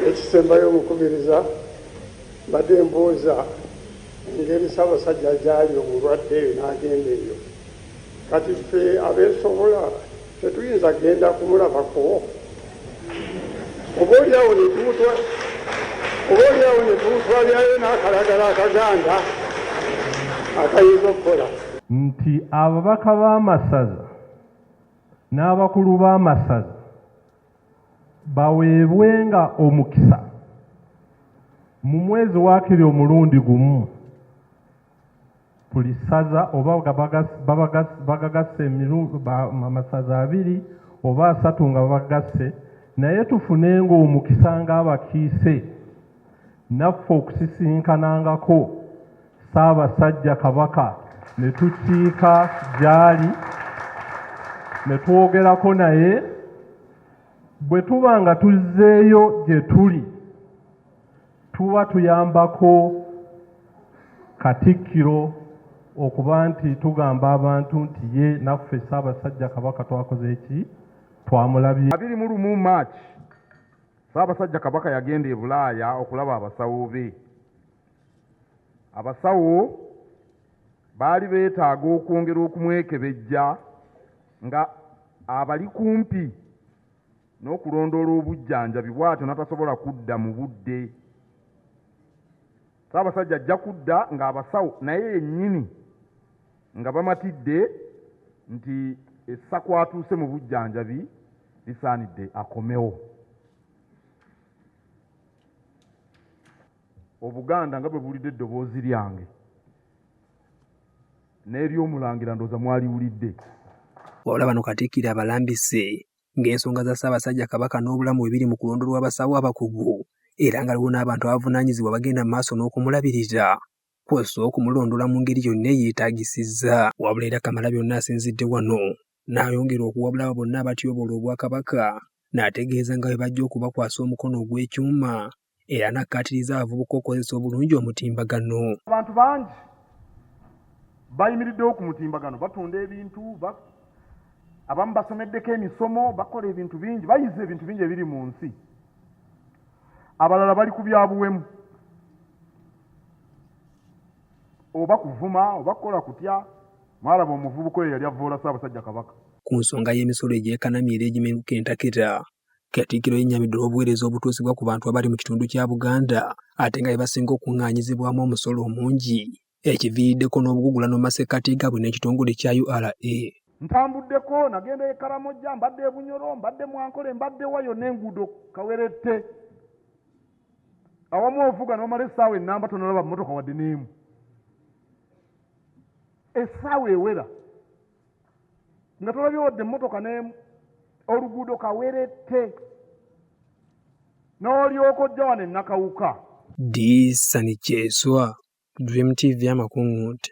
Ekisembayo omukubiriza mbadde mbuuza engeri Ssaabasajja gyali omulwadde eyo n'agenda eyo kati ffe abeesobola tetuyinza genda kumulabako oba olyawo netumutwalirayo n'akalagala akaganda akayinza okukola nti ababaka b'amasaza n'abakulu b'amasaza baweebwenga omukisa mu mwezi wakiri omulundi gumu buli ssaza oba bagagasse amasaza abiri oba asatu nga babagasse naye tufunenga omukisa ng'abakiise naffe okusisinkanangako Ssaabasajja Kabaka ne tukiika gy'ali ne twogerako naye bwe tuba nga tuzzeeyo gye tuli tuba tuyambako Katikkiro okuba nti tugamba abantu nti ye naffe Ssaabasajja Kabaka twakoze eki twamulabye. abiri mu lumu March Ssaabasajja Kabaka yagenda e Bulaaya okulaba abasawo be. Abasawo baali beetaaga okwongera okumwekebejja nga abali kumpi n'okulondoola obujjanjabi bw'atyo natasobola kudda mu budde. Ssaabasajja ajja kudda ng'abasawo naye yennyini nga bamatidde nti essa kwatuuse mu bujjanjabi lisaanidde akomewo. Obuganda nga bwe buwulidde eddoboozi lyange n'ery'Omulangira ndowooza mwaliwulidde. Wabula bano Katikkiro abalambise ng'ensonga za Ssaabasajja Kabaka n'obulamu bwe biri mu kulonda olw'abasawo abakugu era nga waliwo n'abantu abavunaanyizibwa abagenda mu maaso n'okumulabirira kwossa okumulondoola mu ngeri yonna eyeetaagisizza. Wabula era Kamalabyonna asinzidde wano N'ayongera okuwabula abo bonna abatyoboola Obwakabaka n'ategeeza nga bwe bajja okubakwasa omukono ogw'ekyuma era n'akkaatiriza abavubuka okukozesa obulungi omutimbagano. Abantu bangi bayimiriddewo ku mutimbagano, batunda ebintu, abamu basomeddeko emisomo, bakola ebintu bingi, bayize ebintu bingi ebiri mu nsi, abalala bali ku bya buwemu. oba kuvuma oba kukola kutya mwalaba omuvubuka oyo yali avvoola ssaabasajja kabaka ku nsonga y'emisolo egyekanamye era egimeruka entakera Katikkiro yennyamidde olw'obuweereza obutuusibwa ku bantu abali mu kitundu kya Buganda ate nga bebasinga okuŋŋaanyizibwamu omusolo omungi ekiviiriddeko n'obugugulano mu masekkati gaabwe n'ekitongole kya ura ntambuddeko nagenda e karamojja mbadde e bunyoro mbadde mwankole mbadde wayo n'enguudo kawerette awamu ovuga nomala esaawa enamba tonalaba mumotoka wadde neemu esaawa ewera nga tolabye wadde mumotoka neemu oluguudo kawerette n'olyoka ojja wano enakawuka disani kyeswa dream tv amakuŋŋunte